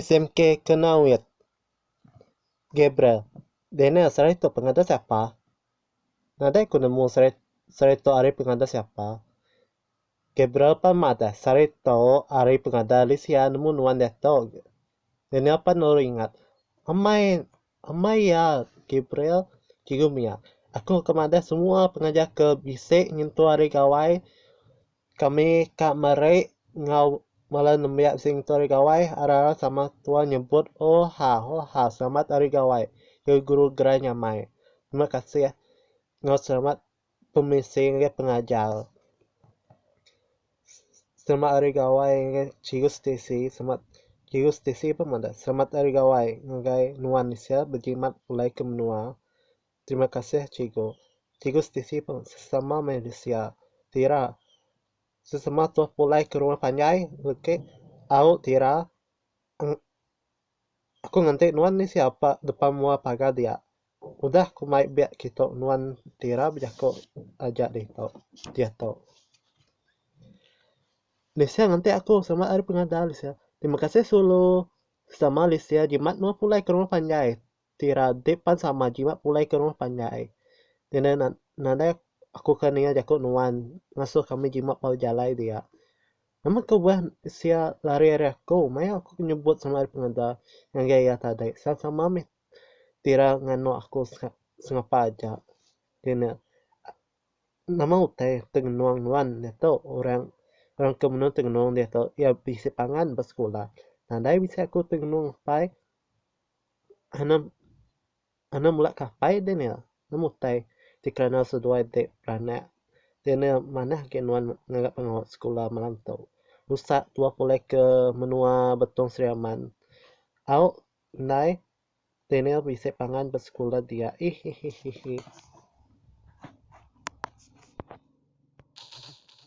SMK kena wit. Gabriel, Daniel serai tu pengada siapa? Nadai ku nemu serai serai tu ari pengada siapa. Gabriel pan madah sari tu ari pengadah Lisia nemu nuan diatu. Daniel pan lalu ingat, Amai, amai iya, Gabriel, Cikgu mia, aku ka madah semua pengajar ke bisi nyentuk ari gawai kami ka meri enggau bala nembiak bisi nyentuk ari gawai arai-arai sama tua nyebut Hoha, Hoha, selamat ari gawai, ya guru gerai nyamai. Terima kasih enggau selamat pemisi enggau pengajar. Selamat Hari Gawai enggau Chirus Tisi selamat Chirus Tisi pun madah selamat Hari Gawai ngagai nuan sia bejimat pulai ke menua. Terima kasih Cikgu. Chirus Tisi pun sesama manusia tira sesama tuah pulai ke rumah panjai legi au tira aku nganti nuan ni sia depa mua pagar dia. Udah ku mai biak kitu nuan ti ra bejaku taja ditu diatu. Lisia nganti aku selamat ari pengada Lisia. Terima kasih sulu sama Lisia jimat nuan pulai ke rumah panjai ti ra dip pan sama jimat pulai ke rumah panjai. Ngena nan nadai aku ke ninga jaku nuan ngasuh kami jimat bala jalai dia. Nama ke udah sia lari ari aku maya aku nyebut selamat ari pengada ngagai iya tadi sama mih Tira nganu aku sengapa aja ngeri ne nama utai tengenung nuan diatu orang orang ke mene tengenung diatu iya bisi pangan ba skulah nadai bisi aku tengenung apai anang anang mula ka apai deh nama utai ti kerana seduai ti beranak deh ne manah agi nuan ngaga pengawa skulah malam tu usa tuah pulai ke menua Betong Sri Aman au. Ndai Daniel bisi pangan ba sekula dia ihihihihi.